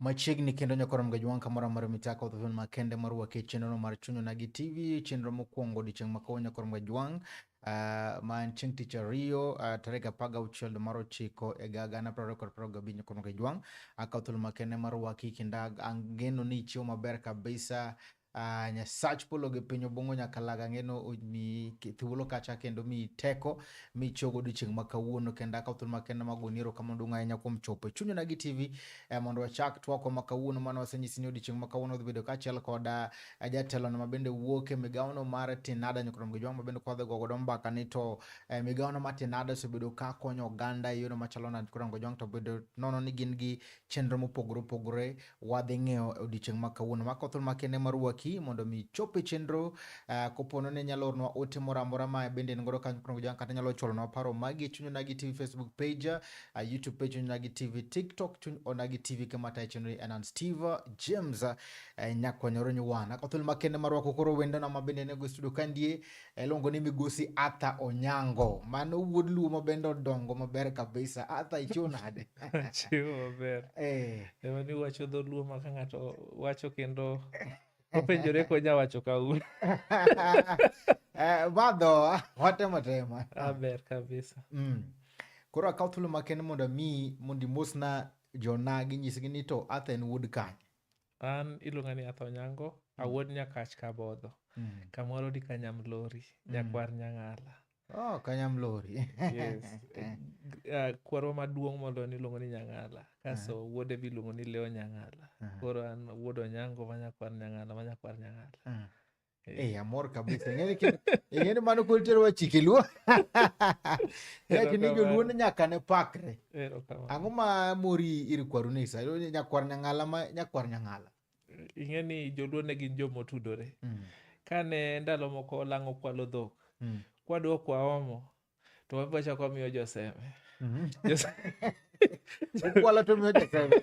machiegni kendo nyokorom ga jwanka moro amora michako to ma kende marwaki chenro mar chunyo na gi tv chenro mokwongo odiochieng' ma kawuono nyokorom ga jwang' uh, ma en chieng' tich ariyo uh, tarik apar ga auchiel dwe mar ochiko e ga gana prariyo kod prariyo gabich nyokorom ga jwang' akawo thuolo ma kende marwaki kendo angeno ni ichiwo maber kabisa uh, Uh, nyasach polo gi piny obongo nyaka laga ng'eno mi thuolo kacha kendo mi teko mi chogo odiochieng' ma kawuono kendo akaw thuolo makenda mag goni erokamano duong' ahinya kuom chopo e chunyo na gi tv eh, mondo wachak twako ma kawuono mane wasenyisi ni odiochieng' ma kawuono dhi bedo kaachiel koda eh, jatelono ma bende wuok e migawono mar tinada nyokrom gi jwang' ma bende kwadhi go godo mbaka ni to eh, migawono mar tinada osebedo ka konyo oganda e yono machalo nade nyokrom gi jwang' to bedo nono ni gin gi chenro mopogore opogore wadhi ng'eyo e odiechieng' ma kawuono. Mako thuolo makende mar waki mondo mi chop e chenro uh, kopono ne nyalo ornwa ote moro amora ma bende en godo kanyo kono jang kata nyalo chwalonwa paro magi chuny onagi tv facebook page uh, youtube page chuny onagi tv tiktok chuny onagi tv kama tayo chenro anan steve james uh, nyakwanyoro nyuwana ko thuolo makende mar wako koro wendona ma bende nego e studio kandie Eluongo ni migosi Arthur Onyango. Mano wuod Luo ma bende odongo maber kabisa. Arthur ichiwo nade? Chiwo maber. Eh. Ema ni wacho dho Luo ma ka ng'ato wacho kendo openjore konya wacho ka un. Eh, madho watemo tema. Aber kabisa. Mm. Koro akaw thuolo makende mondo mi mondo imosna jonagi nyisgi ni to Arthur en wuod kanye? an iluonga ni atho nyango mm. awuod nyakach kabodho mm. kamoro di kanyamlori mm. nyakwar nyang'ala oh, kanyamlori yes. uh, kwarwa maduong' moloyo niluongo ni nyang'ala kaso uh -huh. wuode bi iluongo ni leo nyang'ala uh -huh. koro an wuod onyango ma nyakwar nyang'ala ma nyakwar nyang'ala uh -huh. Eh, eh amor kabisa. Ng'eni ki ng'eni mano kul tero wachi kiluo. Ya kini joluo ne nyaka ne pakre. Ang'o ma mori ir kwaru ni sa nyakwar nyang'ala ma nyakwar nyang'ala. Ing'eni joluo ne gin joma otudore. Mm. Kane ndalo moko lang'o kwalo dhok. Mm. Kwadwa kwaomo. to wabwa chako miyo joseme Jose- Ukwala to miyo jaseme.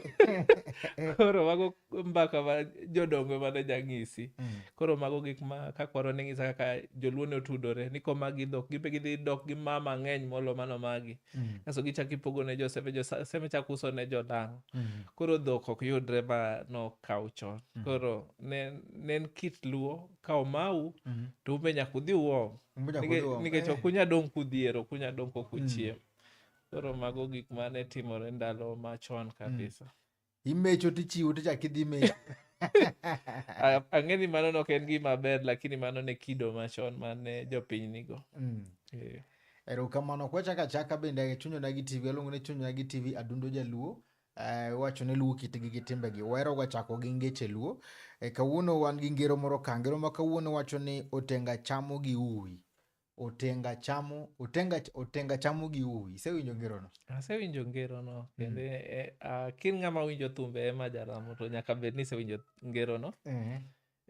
koro mago mbaka ma jodongo mane jang'isi koro mago gik ma kakwaro ne ng'isa kaka joluo ne otudore ni komagi dhok gibe gidhi dok gi ma mang'eny molo mano magi kaso gichak ipogo ne joseme joseme chak uso ne jodang' koro dhok ok yudre ma nokaw chon koro ne ne en kit luo ka omau to umbe nyaka udhi uom Mbunya Nike- koduogo. nikech Eh, ok unya dong' kudhiero ok unya dong' kok uchiem koro mago gik mane timore ndalo machon kabisa imecho tichiwo tichak idhi mecho A- ang'e ni mano nok en gima ber lakini mano ne kido machon mane jopiny nigo Mm. Eh, erokamano kwachaka chaka bende chunyona gi tv aluongo ni chunyona gi tv adundo jaluo Eh, iwacho ni luo kitgi gi timbegi wahero ga chako gi ngeche luo e, kawuono wan gi ngero moro ka ngero ma kawuono wacho ni otenga chamo gi uwi otenga chamo otenga otenga chamo gi uwi isewinjo ngero no asewinjo ngero no mm. kendo mm. e, a, kin ng'ama winjo thumbe ema jaramo to nyaka bed ni isewinjo ngero no mm -hmm.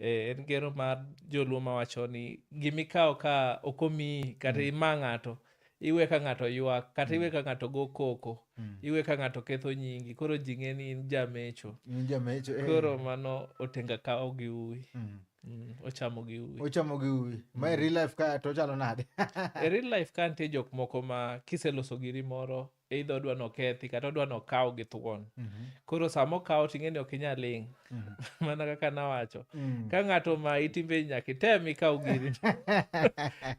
Eh, en gero mar joluo mawacho ni gimikawo ka ok omiyi kata mm. ima ng'ato iwe ka ng'ato ywak kata iwe mm. ka ng'ato go koko mm. iwe ka ng'ato ketho nyingi koro ji ng'e ni in jamecho eh. koro mano otenga kawo gi uwi ochamo gi uwi ochamo gi uwi ma e real life ka to chalo nade e real life ka nitie jok moko ma kiseloso giri moro either odwa ni okethi kata odwa ni okaw gi thuon mhm. koro sama okaw to ing'eni ok inyal ling mhm. mana kaka nawacho mm. ka ng'ato ma itimbe nyaka item ikaw giri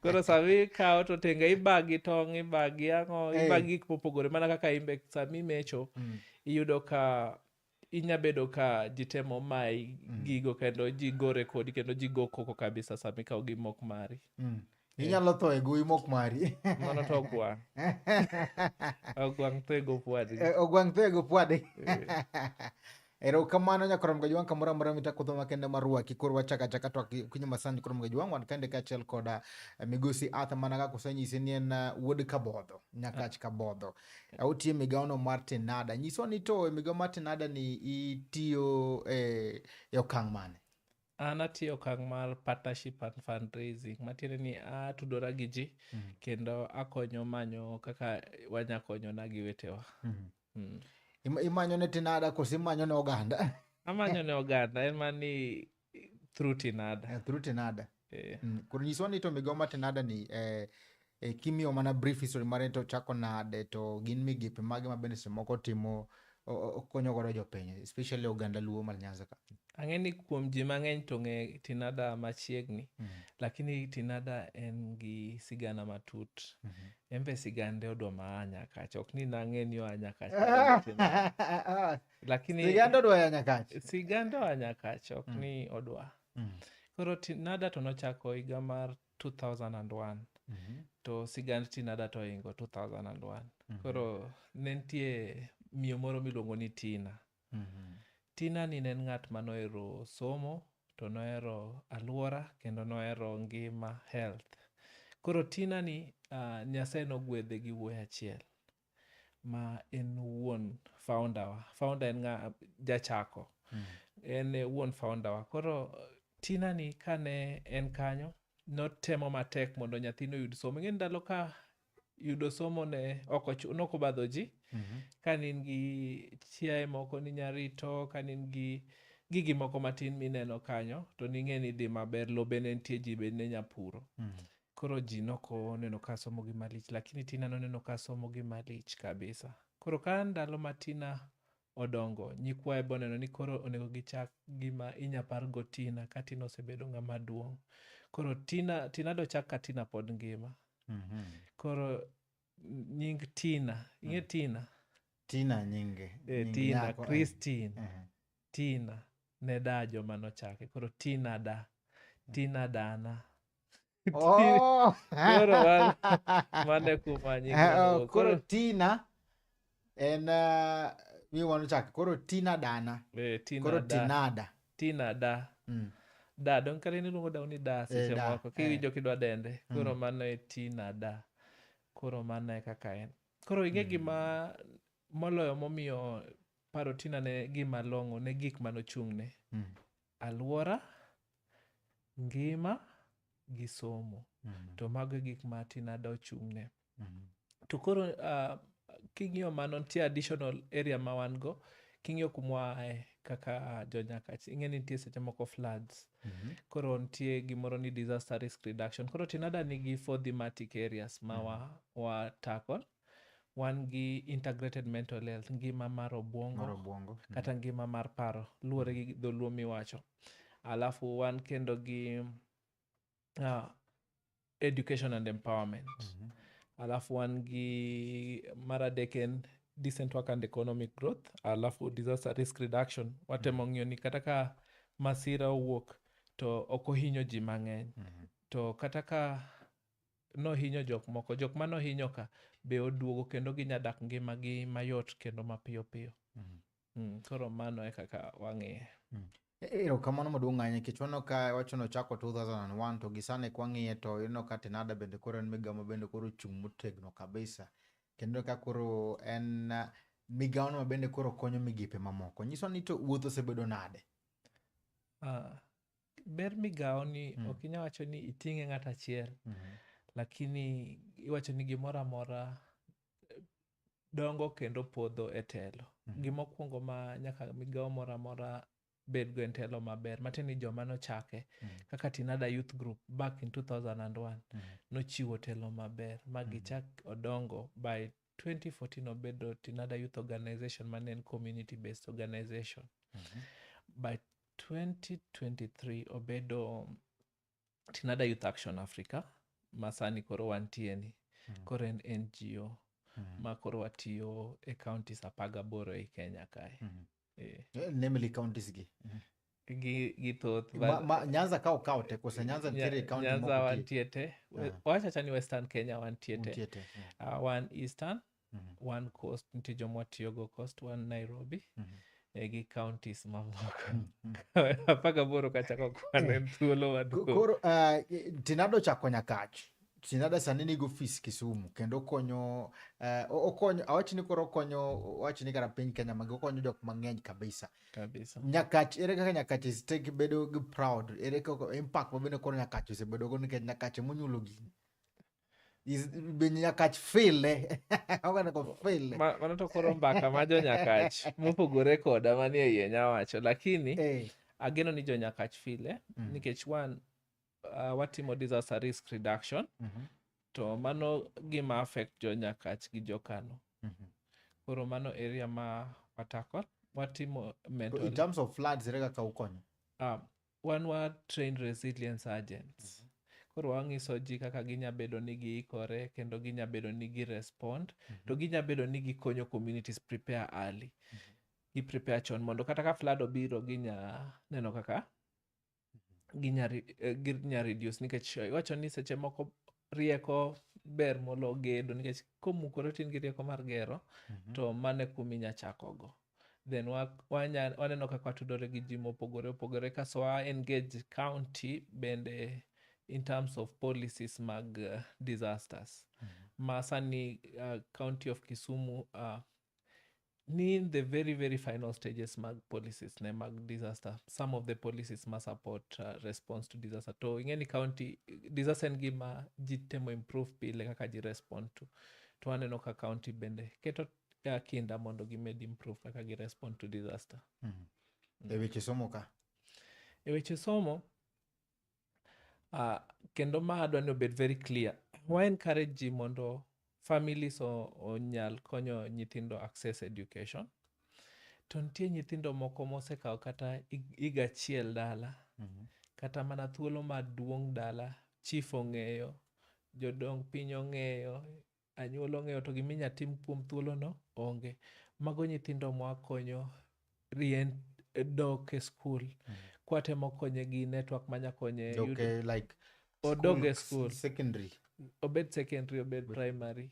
koro sama ikaw to tenga ibagi tong' ibagi ang'o ibagi gik mopogore mana kaka imbe sama imecho mm. iyudo ka inya bedo ka ji temo mayi mm. gigo kendo ji gore kodi kendo ji go koko kabisa sama ikawo gi mok mari mm. eh. inyalo tho e gowi mok mari mano to ogwang' ogwang' tho e go pwadi eh, ogwang' tho e go pwadi eh. erokamano nyakorom ga jwang' kamoro amora mitakudho makende marwaki koro wachaka chaka to kinyo masani korom ga jwang' wan kende kaachiel koda migosi arthur mana kaka osenyise ni en wuod kabodho nyakach kabodho Auti e migawono mar Tenada. Nyiswa ni to e migawo mar Tenada ni itiyo e, e okang' mane? An atiyo okang' mar partnership and fundraising matiende ni atudora gi ji mm. kendo akonyo manyo kaka wanya konyona gi wetewa. Mm. Mm. Imanyo ne Tenada koso imanyo ne oganda? Amanyo ne oganda en ma ni through tinada eh, through tinada eh. mm. koro nyiswa ni to migawo ma tinada ni eh, eh, kimiyo mana brief history mare to chako nade to gin migepe mage ma bende semoko timo konyo godo jopiny especially oganda luo mar nyanza ka ang'e ni kuom ji mang'eny to ng'e tinada machiegni mm -hmm. lakini tinada en gi sigana matut mm -hmm. en be sigande odwa ma a nyakacha ok ni nang'e ni oa nyakacha lakini sigand odwa ya nyakach sigand oa nyakach ok mm. ni odwa mm. koro tinada to nochako higa mar 2001 mm -hmm. to sigand tinada to ohingo 2001 mm -hmm. koro ne nitie miyo moro miluongo ni tina mm -hmm. tina ni ne en ng'at ma nohero somo to nohero aluora kendo nohero ngima health koro tina ni uh, nyasaye nogwedhe gi wuoyi achiel ma en wuon founder wa founder en ng'a jachako mm. en eh, wuon founder wa koro tina ni kane en kanyo notemo matek mondo nyathino oyud somo ing'e ndalo ka yudo somo ne nokobadho ji mm -hmm. ka nin gi chiaye moko ni nyarito ka nin gi gigi moko matin mineno kanyo to ning'e ni dhi maber lobe ne nitie ji be ne nyapuro mm -hmm. Koro ji noko neno ka somo gi malich lakini Tina noneno ka somo gi malich kabisa. Koro ka ndalo ma Tina odongo, nyikwaye boneno ni koro onego gichak gima inya pargo Tina ka Tina osebedo ng'ama duong'. Koro Tina, Tina dochak ka Tina pod ngima. Mhm. Koro nying Tina, ing'e Tina? Tina nyinge. Eh, nying Tina, nyako, eh. Christine. Mhm. Tina ne da joma nochake. Koro Tina da. Tina dana. Oh. Koro wan- mane kumanyi Eh, oh, koro koro tina en uh, mi wan chak koro tina dana eh, Tina koro da. tinada Tina da Mm. da don kare ni luongo daw ni da seche da, moko eh. kiwinjo kidwa dende koro Mm. mano e tina da koro mano e kaka en koro ing'e Mm. gima moloyo momiyo paro tina ne gima long'o ne gik manochung'ne Mm. alwora, ngima gi somo. Mm. To mago e gik ma Tinada ochung'ne. Mm. To koro uh, king'iyo mano nitie additional area ma wan go king'iyo kumwa ae kaka jonyakach ing'e ni nitie seche moko floods mm -hmm. koro nitie gimoro ni disaster risk reduction koro tinada nigi four thematic areas ma mm -hmm. wa, wa tackle wan gi integrated mental health ngima mar obwongo Mar obwongo. Mm. kata ngima mar paro luwore gi dholuo miwacho alafu wan kendo gi uh, education and empowerment Mhm. alafu wan gi mar adek en decent work and economic growth alafu disaster risk reduction watemo ng'iyo ni kata ka masira owuok to ok ohinyo ji mang'eny Mhm. to kata ka nohinyo jok moko, jok mane ohinyo ka be oduogo kendo ginya dak ngimagi mayot kendo mapiyo piyo. Mm. Mm, koro mano e kaka wang'iye. Mm. E, e, erokamano maduong' ahinya nikech waneno ka wachno ochako 2001 to gi sani kwang'iye to ineno ka Tenada bende koro en migawo ma bende koro ochung' motegno kabisa kendo ka koro en migawono ma bende koro konyo migepe mamoko. Nyiso ni to wuoth osebedo nade? Uh, ber migawo ni mm. ok inya wacho ni iting'e ng'at achiel mm -hmm. lakini iwacho ni gimoro amora eh, dongo kendo podho e telo mm -hmm. gimokwongo ma nyaka migawo moro amora bedgo en telo maber matiende ni joma nochake mm -hmm. kaka tinada youth group back in 2001 mm -hmm. nochiwo telo maber ma mhm. gichak mm -hmm. odongo by 2014 obedo Tinada Youth Organization mane en community based organization. Mm -hmm. By 2023 obedo Tinada Youth Action Africa masani koro wantie ni. Mm -hmm. Koro en NGO. Mm -hmm. Ma koro watiyo e counties apagaboro ei Kenya kae. Mm -hmm. eh. Eh, namely counties gi gi gi thoth ma, but- ma, nyanza ka okawo te kose nyanza Nya- nitiere county nyanza moko wantie te We- Ah. wawacha cha ni western kenya wantie ti- te nitie te Mm, Ah, wan eastern mhm, one coast nitie joma watiyogo coast wan nairobi mhm. eh, gi counties mamoko Mm, mm. apaka boro kachako kwana en thuolo Ko- maduong' koro uh, tinado chako nyakach Sinada sani nigi ofis Kisumu kendo okonyo uh, okonyo awach ni koro okonyo awach ni kata piny Kenya magi okonyo jok mang'eny kabisa. Kabisa. Nyakach ere kaka Nyakach istek bedo gi proud ere kaka impact ma bende koro Nyakach osebedo go nikech Nyakach emonyulo gini. Be Nyakach file oganda ko file. Ma, mano to koro mbaka ma jo Nyakach mopogore koda manie iye nyawacho lakini hey. Eh. ageno ni jo Nyakach file mm. nikech one uh, watimo disaster risk reduction Mhm. to mano gima affect jo nyakach gi jo kano Mhm. koro mano area ma watako watimo To in mental terms of floods ere kaka ukonyo um, wan wa train resilience agents koro wang'iso ji kaka ginya bedo ni giikore kendo ginya bedo ni girespond to ginya bedo ni gikonyo communities prepare early gi prepare chon mondo kata ka flood obiro ginya neno kaka ginya eh, ginya reduce nikech iwacho ni seche moko rieko ber molo gedo nikech komukore tin gi rieko mar gero mm -hmm. to mane kumi nya chakogo then waneno kaka watudore gi ji mopogore opogore kaso wa engage county bende in terms of policies mag uh, disasters mm -hmm. ma sani uh, county of kisumu uh, ni in the very very final stages mag policies ne mag disaster some of the policies ma support uh, response to disaster to ing'eni county disaster en gima ji temo improve pile kaka ji respond to to aneno ka county bende keto uh, kinda mondo gimed improve kaka gi respond to disaster e weche somo ka e weche somo Uh, kendo ma adwa ni obed very clear wa encourage ji mondo families o- onyal konyo nyithindo access education to nitie nyithindo moko mosekawo kata hig- higa achiel dala kata mana thuolo maduong' dala chief ong'eyo jodong piny ong'eyo Anyuola ong'eyo to gima inya tim kuom thuolo no onge. Mago nyithindo mwa konyo rien dok e skul. Mm. Kwa temo konye gi network manya konye. Dok e like. Odog e skul. Secondary. Obed secondary, obed primary.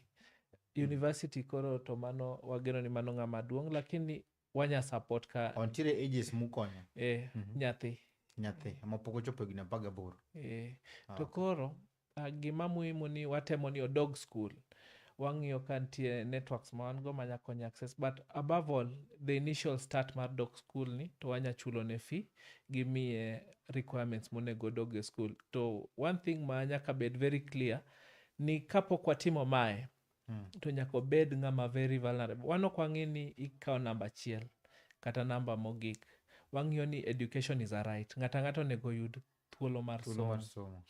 Mm. University koro to mano wageno ni mano ng'ama duong' lakini wanya support ka ontiere ages mukonyo eh, mm -hmm. nyathi nyathi ma pok ochopo higni apar gaboro eh. ah, to koro uh, gima muhimu ni watemo ni odog school wang'iyo ka nitie networks ma wan go manya konyo access but above all the initial start mar dok school ni to wanya chulo ne fee gimiye requirements monego dog e school to one thing ma nyaka bed very clear ni kapok watimo mae mm. to nyaka obed ng'ama very vulnerable wan ok wang'e ni ikawo namba achiel kata namba mogik wang'iyo ni education is a right ng'ato ang'ato onego oyud thuolo mar somo somo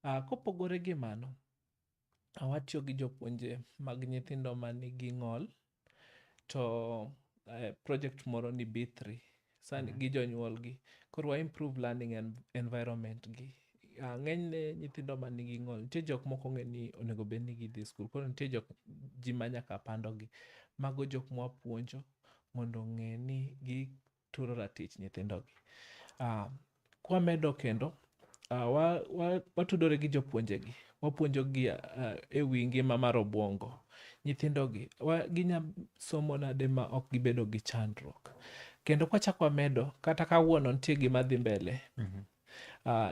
Ah, kopogore gi mano ah, watiyo gi jopuonje mag nyithindo ma nigi ng'ol to eh, project moro ni b3 sa mm. gi jonyuolgi koro wa improve learning and environment gi uh, ng'enyne nyithindo ma nigi ng'ol nitie jok moko ong'e ni onego bed ni gidhi skul koro nitie jok ji ma nyaka pandogi mago jok mwapuonjo mondo ong'e ni gituro ratich nyithindogi uh, Kwamedo kendo, uh, wa, wa, watudore gi jopuonjegi, wapuonjogi uh, e wi ngima mar obwongo nyithindogi, wa, ginya somo nade ma ok gibedo gi chandruok. Kendo kwachak wamedo, kata kawuono nitie gima dhi mbele, mm -hmm. Uh,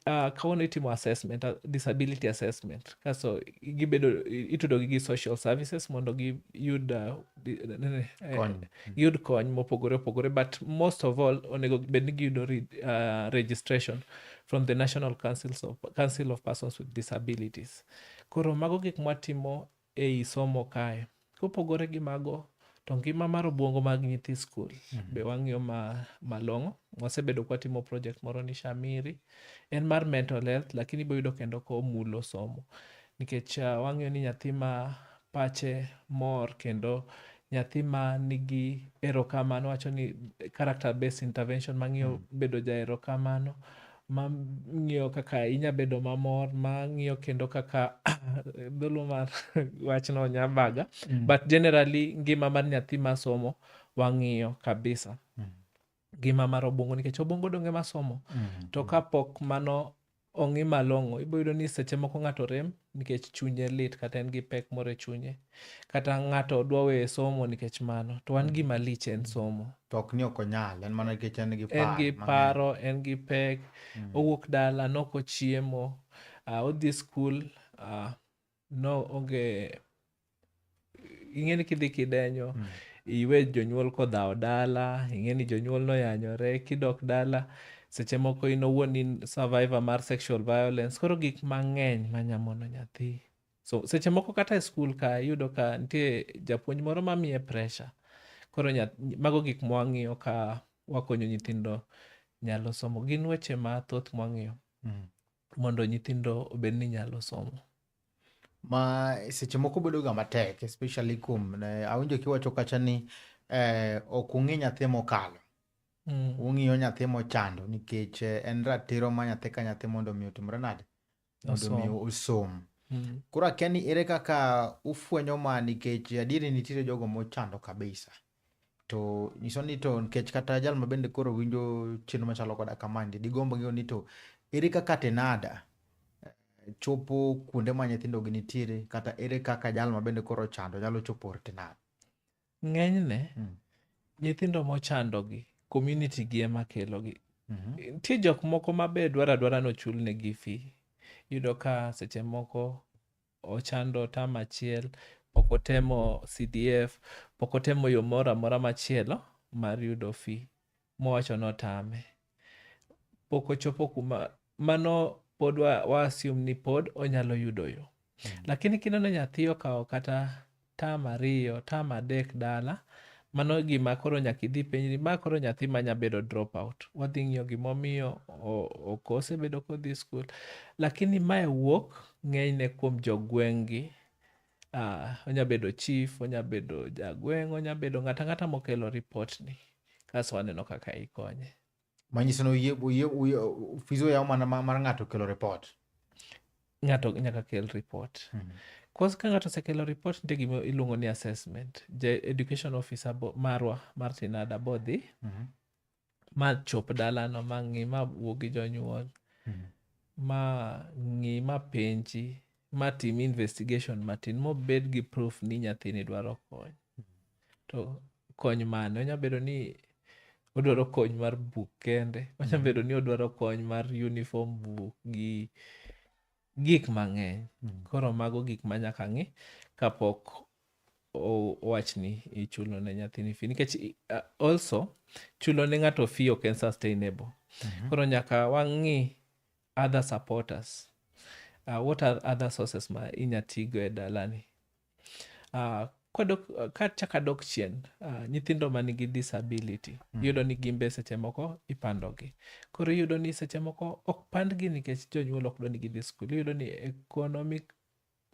uh, kawuono itimo assessment uh, disability assessment kaso gibedo itudogi gi social services mondo giyud uh, eh, yud kony mopogore opogore but most of all onego bed ni giyudo uh, registration from the national councils of, council of persons with disabilities koro mago gik mwatimo ei somo kae kopogore gi mago to ngima mar obwongo mag nyithi skul mm -hmm. be wang'iyo ma, malong'o wasebedo kwatimo project moro ni shamiri en mar mental health lakini boyudo kendo komulo somo nikech uh, wang'iyo ni nyathi ma pache mor kendo nyathi ma nigi erokamano wacho ni character based intervention mang'iyo mm. bedo ja erokamano mang'iyo kaka inya bedo mamor mang'iyo kendo kaka dholuo mar wachno nyabaga mm. but generally ngima mar nyathi masomo wang'iyo kabisa mm. ngima mar obwongo nikech obwongo donge masomo mm -hmm. to kapok mano ong'i malong'o ibo yudo ni seche moko ng'ato rem nikech chunye lit kata en gi pek moro e chunye kata ng'ato dwa weyo somo nikech mano to wan gima mm. lich en somo to ok ni ok onyal en mana nikech en gi paro en gi paro en gi pek mm. owuok dala noko chiemo uh, odhi skul uh, no onge ing'eni kidhi kidenyo mm. iwe jonyuol kodhawo dala ing'eni jonyuol noyanyore kidok dala seche moko in owuon in survivor mar sexual violence koro gik mang'eny manyamono nyathi so seche moko kata e skul ka iyudo ka nitie japuonj moro mamiye pressure koro mago gik mwang'iyo ka wakonyo nyithindo nyalo somo gin weche mathoth mwang'iyo mm. mondo nyithindo obed ni nyalo somo. Ma seche moko bedo ga matek especially kuom awinjo kiwacho kacha ni eh, ok ung'i nyathi mokalo. Mm. Ung'iyo nyathi mochando nikech eh, en ratiro ma nyathi ka nyathi mondo mi otimre nade? Mondo mi osom. Mm. Koro akia ni ere kaka ufwenyo ma nikech adieri nitiere jogo mochando kabisa. To nyiso ni to nikech kata jal ma bende koro winjo chenro machalo koda kamandi, digombo ng'eyo ni to ere kaka tenada eh, chopo kuonde ma nyithindo gi nitiere kata ere kaka jal ma bende koro chando nyalo chopo or tenada? Ng'enyne, mm. nyithindo mochandogi, community gi ema kelogi. Mm -hmm. Nitie jok moko ma be dwara dwara nochulnegi fee. Iyudo ka seche moko ochando tam achiel, pok otemo CDF, pok otemo yo moro amora machielo mar yudo fi mowacho notame. Pok ochopo kuma mano pod wa, wa assume ni pod onyalo yudo yo. Mm. Lakini kineno nyathi okawo kata term ariyo, term adek dala, mano gima koro nyaka idhi penjri, ma koro nyathi ma nya bedo drop out. Wadhi ng'iyo gima omiyo ok osebedo kodhi skul. Lakini mae wuok ng'enyne kuom jogweng'gi. Uh, onya bedo chief, onya bedo jagweng', onya bedo ng'ata ng'ata mokelo ripot ni. Kaso waneno kaka ikonye. manyiso ni oyie- oyie- oyie- fizo yaw mana ma- mar ng'ato kelo report ng'ato nyaka kel report Mhm. kos ka ng'ato osekelo report nitie gima iluongo ni assessment ja education officer bo- marwa martin ada bodhi Mhm. ma chop dalano ma ng'i ma wuo gi jonyuol Mhm. ma ng'i ma penji ma tim investigation matin mobed gi proof ni nyathini dwaro kony to kony mane onya bedo ni odwaro kony mar buk kende onya mm. bedo ni odwaro kony mar uniform buk gi gik mang'eny mm. koro mago gik ma nyaka ng'i kapok owachni ichulo ne nyathini fi nikech also chulo ne ng'ato fi ok en sustainable mm -hmm. koro nyaka wang'i other supporters uh, what are other sources ma inya tigo e dalani uh, kwadok- ka chak adok chien uh, nyithindo ma nigi disability mm. yudo ni gimbe seche moko ipandogi koro iyudo ni seche moko ok pandgi nikech jonyuol ok dwa ni gidhi skul iyudo ni economic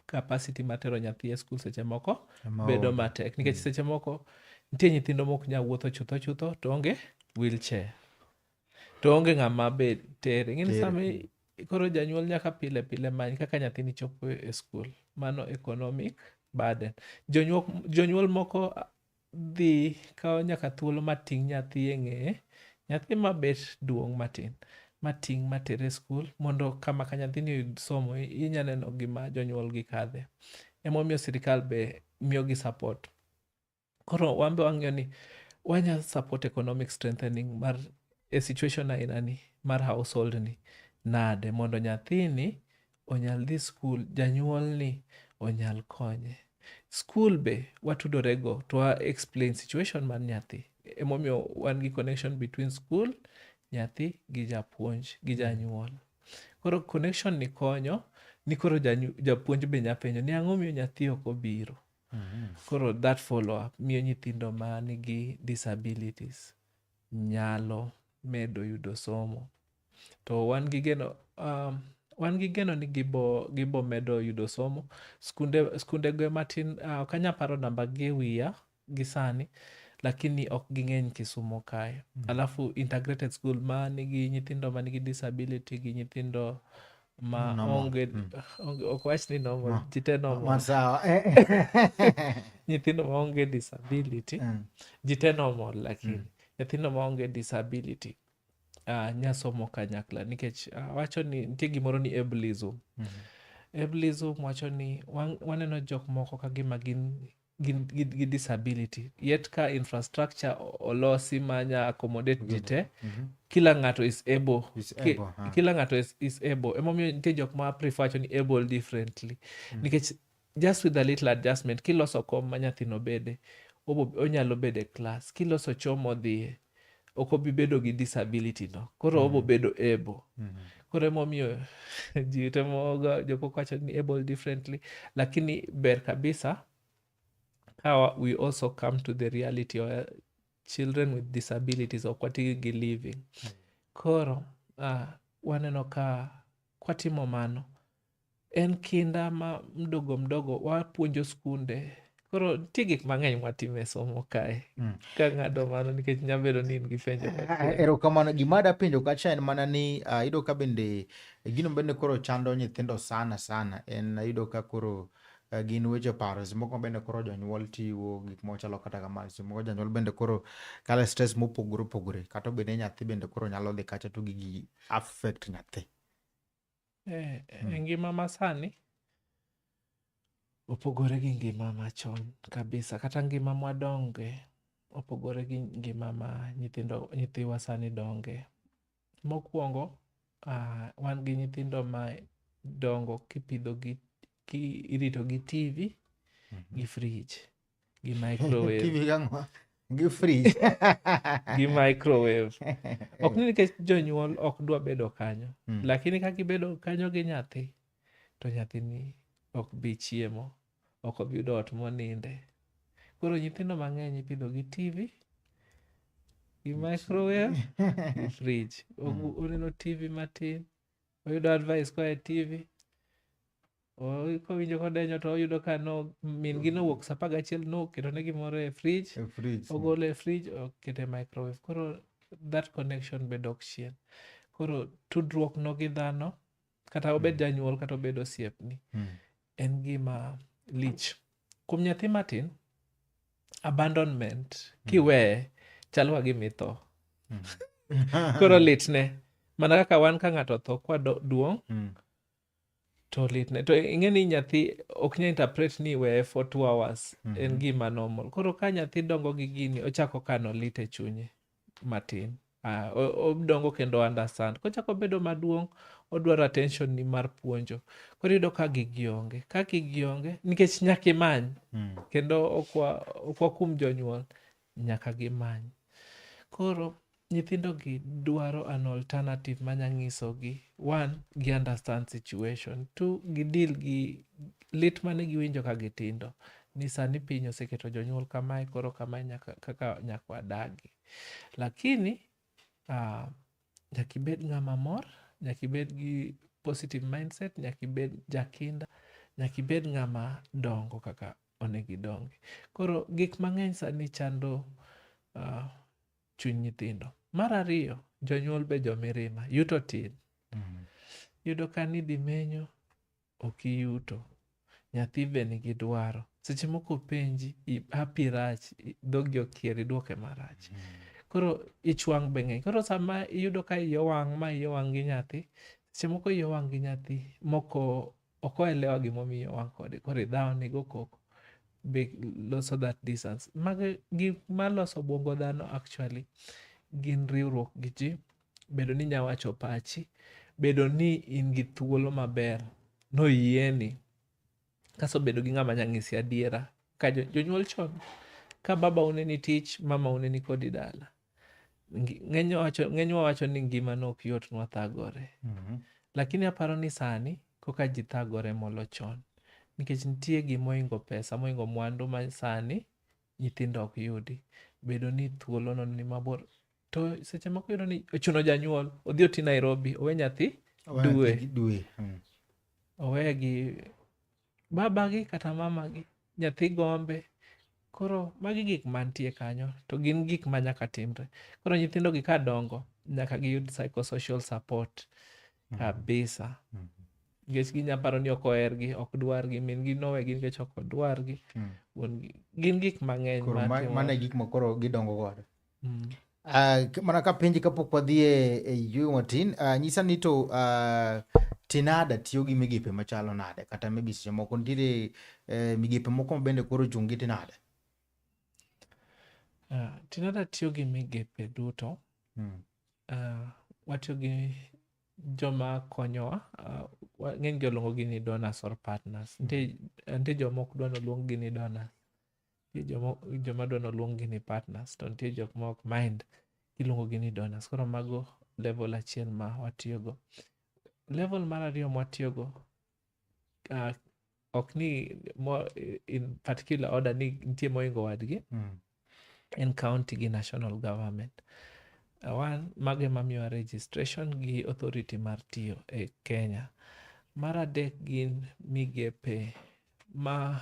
capacity mar tero nyathi e skul seche moko bedo matek nikech mm. seche moko nitie nyithindo mok nyal wuotho chutho chutho to onge wheelchair to onge ng'ama be tere ing'eni sama koro janyuol nyaka pile pile many kaka nyathini chopo e skul mano economic burden jonyuol, jonyuol moko dhi kawo nyaka thuolo mating' nyathi e ng'eye, nyathi ma bet duong' matin mating' matere skul mondo kama ka nyathini oyud somo inya neno gima jonyuolgi kadhe. Emomiyo sirikal be miyogi support. Koro wan be wang'iyo ni wanya support economic strengthening mar e situation aina ni mar household ni nade mondo nyathini onyal dhi skul, janyuolni onyal konye. Skul be watudore go to wa explain situation mar nyathi. Emomiyo wan gi connection between skul, nyathi gi japuonj gi janyuol. Koro connection ni konyo ni koro japuonj be nya penjo ni ang'o miyo nyathi ok obiro. Mm-hmm. Koro that follow up miyo nyithindo ma nigi disabilities nyalo medo yudo somo. to wan gi geno um, wan gi geno ni gibo gibo medo yudo somo skunde skunde go matin uh, ok anya paro namba gi e wiya gi sani lakini ok ging'eny kisumo kae mm. alafu integrated school ma nigi nyithindo ma nigi disability gi nyithindo ma Normal. onge Mm. onge- ok wach ni normal Ma- jite normal Masawa. Eh, eh. nyithindo ma onge disability Mm. jite normal lakini Mm. nyithindo ma onge disability uh, nyasomo kanyakla nikech uh, wacho ni nitie gimoro ni ableism mm -hmm. ableism wacho ni wan, waneno jok moko ka gima gin gi disability yet ka infrastructure olosi manya accommodate ji te mm -hmm. kila ng'ato is able, is able ki, huh? kila ng'ato is, is able emomiyo nitie jok ma prefer wacho ni able differently mm -hmm. nikech just with a little adjustment kiloso kom ma nyathino bede onyalo bedo e klas kiloso choo modhiye ok obi bedo gi disability no koro mm. obo bedo able mm. koro emomiyo ji temoga jomoko wacho ni able differently lakini ber kabisa how we also come to the reality of uh, children with disabilities ok watigi gi living mm. koro uh, waneno ka kwatimo mano en kinda ma mdogo mdogo wapuonjo skunde koro nitie gik mang'eny mwatimo e somo kae mm. ka ng'ado mano nikech nyabedo ni in gi penjo eh, eh, eh, erokamano gima da penjo kacha en mana ni uh, yudo ka bende gino bende koro chando nyithindo sana sana en yudo ka koro Eh, gin weche paro seche moko bende koro jonyuol tiwo gik moko chalo kata kamano seche moko janyuol bende koro kale stress mopogore opogore kata obed ni nyathi bende koro nyalo dhi kacha to gigi affect nyathi Eh, eh, hmm. ngima masani opogore gi ngima machon kabisa kata ngima mwadonge opogore gi ngima ma nyithindo nyithiwa sani donge. Mokwongo, uh, wan gi nyithindo ma dongo kipidhogi ki iritogi TV mm -hmm. gi frij. gi microwave TV gang'o? Gi fridge. gi microwave ok ni nikech jonyuol ok dwa bedo kanyo Mm. lakini ka gibedo kanyo gi nyathi to nyathini ok bi chiemo ok obi yudo ot moninde koro nyithindo mang'eny ipidho gi tv gi microwave gi fridge Ogu- oneno tv matin oyudo advice koa e tv O- kowinjo kodenyo to oyudo ka no min gi nowuok saa apar gachiel noketo ne gimoro e fridge E fridge. ogolo e fridge okete e microwave koro that connection be dok chien koro tudruok no gi dhano kata obed janyuol kata obed osiepni Mm. en gima lich kuom nyathi matin abandonment kiweye chalo ka gima itho koro litne mana kaka wan ka ng'ato otho kwaduong' Mm. to litne to ing'e ni nyathi ok nya interpret ni weye for two hours mm -hmm. en mhm. gima normal koro ka nyathi dongo gi gini ochako kano lit e chunye matin ah, odongo kendo understand kochako bedo maduong' odwaro attention ni mar puonjo koro yudo ka gigi onge ka gigi onge nikech nyaka imany mm. kendo okwa, okwa kum jonyuol nyaka gimany. Koro nyithindogi dwaro an alternative manya nyisogi one gi understand situation two gi deal gi lit mane giwinjo ka gitindo ni sani piny oseketo jonyuol kamae koro kamae nyaka, kaka nyaka wadagi lakini uh, nyaka ibed ng'ama mor nyaka ibed gi positive mindset nyaka ibed jakinda nyaka ibed ng'ama dongo kaka onego gidongi. Koro gik mang'eny sani chando uh, chuny nyithindo. Mar ariyo, jonyuol be jomirima, yuto tin. Mm. Yudo ka ni dhi menyo, ok iyuto. Nyathi be nigi dwaro. Seche moko penji, hapi rach, dhogi okier, idwoke marach. Mm. Koro ichwang' be ng'eny. Koro sama iyudo ka iyo wang' ma iyo wang' gi nyathi, seche moko iyo wang' gi nyathi moko ok oelewa gimomiyo wan kode koro idhawo ni go koko be loso that distance mago gik maloso obwongo dhano actually gin riwruok gi ji bedo ni inya wacho pachi bedo ni in gi thuolo maber noyieni kaso bedo gi ng'ama nya ng'isi adiera ka jo- jonyuol chon ka baba uneni tich mama uneni kodi dala ng'enywa wacho ni ngima no ok yot nwa thagore mm -hmm. lakini aparo ni sani koka ji thagore molo chon nikech nitie gimoingo pesa moingo mwandu ma sani nyithindo ok yudi bedo ni thuolo no ni mabor to seche moko yudo ni ochuno janyuol odhi oti nairobi owe nyathi dwe dwe hmm. owe gi babagi kata mamagi nyathi gombe koro magi gik mantie kanyo to gin gik ma nyaka timre koro nyithindo gi ka dongo nyaka giyud psychosocial support mm. kabisa mm. nikech ginya paro ni ok ohergi ok dwargi min gi nowe gi nikech ok odwargi mm. gin gik mang'eny mane gik makoro gidongo godo Mm. Uh, mana ka penji kapok wadhi e, e yueyo matin uh, nyisa ni to uh, tinada tiyo gi migepe machalo nade kata maybe seche moko nitiere uh, migepe moko mabende koro chung' gi tinada uh, tinada tiyo gi migepe duto mm. uh, watiyo gi joma konyowa uh, ng'eny gi oluongo gi ni donors or partners nitie mm. joma ok dwa noluong gi ni donors nitie joma joma dwa noluongi ni partners to nitie jok ma ok mind kiluongogi ni donors koro mago level achiel ma watiyogo level mar ariyo mwatiyogo uh, ok ni mo, in particular order ni nitie moingo wadgi Mm. en county gi national government Uh, one mago emamiyowa registration gi authority mar tiyo e kenya mar adek gin migepe ma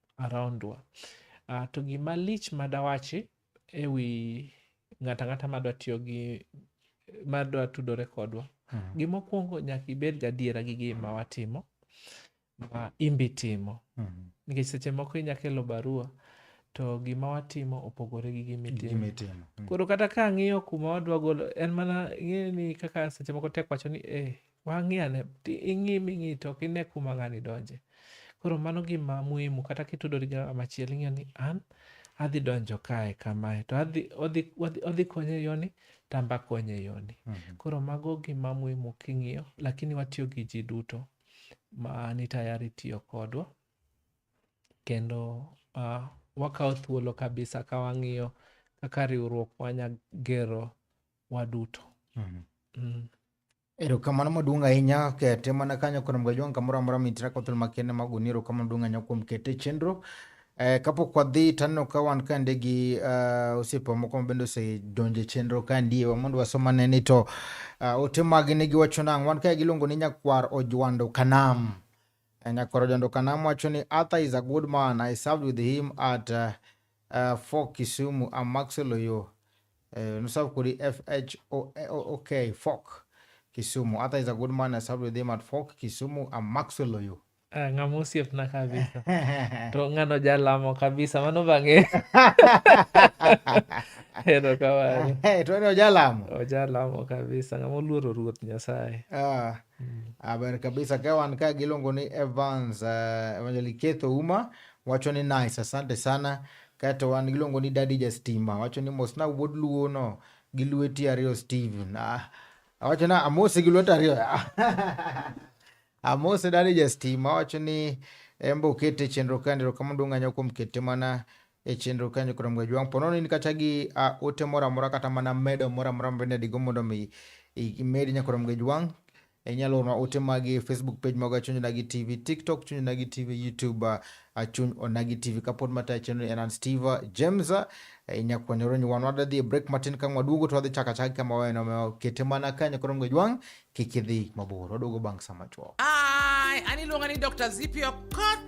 around wa. Uh, to gima lich madawachi e wi ng'ata ng'ata madwa tiyo gi madwa tudore kodwa mm. gimokwongo nyaka ibed gadiera gi gima watimo ma imbi timo mm. nikech seche moko inya kelo barua to gima watimo opogore gi gimitimo mm. koro kata ka ang'iyo kuma wadwa golo en mana ing'e ni kaka seche moko tek wacho ni e eh, Wang'i ane, ing'i ming'i to ok ine kuma ng'ani donje. Koro mano gima muhimu kata kitudori gi ng'ama chielo ing'eyo ni an adhi donjo kae kamae to adhi odhi odhi odhi konye yoni tamba konye yoni. Mhm. Koro mago gima muhimu king'iyo lakini watiyo gi ji duto ma ni tayari tiyo kodwa kendo uh, wakawo thuolo kabisa ka wang'iyo kaka riwruok wanya gero waduto. Mhm. Mm. Erokamano maduong' ahinya kete mana kanyo koro mga jwang' kamoro amora mitira kothol makende mag uni erokamano duong' ahinya kuom kete chenro Eh, kapok wadhi taneno ka wan kande gi uh, osiepa moko ma bende osedonjo e chenro kandie wa mondo wasom ane ni to uh, ote magi ne giwacho nang' wan kae giluongo ni nyakwar ojwando kanam Eh, nyakwar ojwando kanam wacho ni arthur is a good man i served with him at uh, uh, for Kisumu and Maxwell Oyo. Uh, no sub kuri F H O O K Fork Kisumu. Ata is a good man. I served with him at Fork Kisumu and Maxwell Oyo. Uh, eh, ng'ama osiepna kabisa to ng'ano jalamo kabisa mano bang'e hero kamano hey, eh, to ni ojalamo ojalamo kabisa ng'ama oluoro ruoth nyasaye ah, mm. aber kabisa ka wan ka giluongo ni evans uh, eh, evangeliketho uma Wacho ni nice, asante sana. Kaeto wan giluongo ni Daddy Jastima. Wacho ni mos na wuod luo no gi lweti ariyo Steven. Ah, wacho na amose gi lweti ariyo. amose Daddy Jastima. Wacho ni embo kete chenro kande ro kama duong' anyo kuom kete mana e chenro kanyo kuom gwe jwang' pono ni kata gi uh, ote mora mora kata mana medo mora mora mbende digo mondo mi imed nyakuom gwe jwang' inyalo orna ote magi facebook page maga chuny onagi tv tiktok chuny onagi tv youtube achuny uh, onagi tv kapod matayo chenro en an steve james uh, inya kwanyoro nyi wan wadwa dhi e break matin ka waduogo to wadhi chaka chaka kama waweno kete mana kanyo koro mgo jwang' kik idhi mabor waduogo bang' sama chuok an iluonga ni dr zipi okot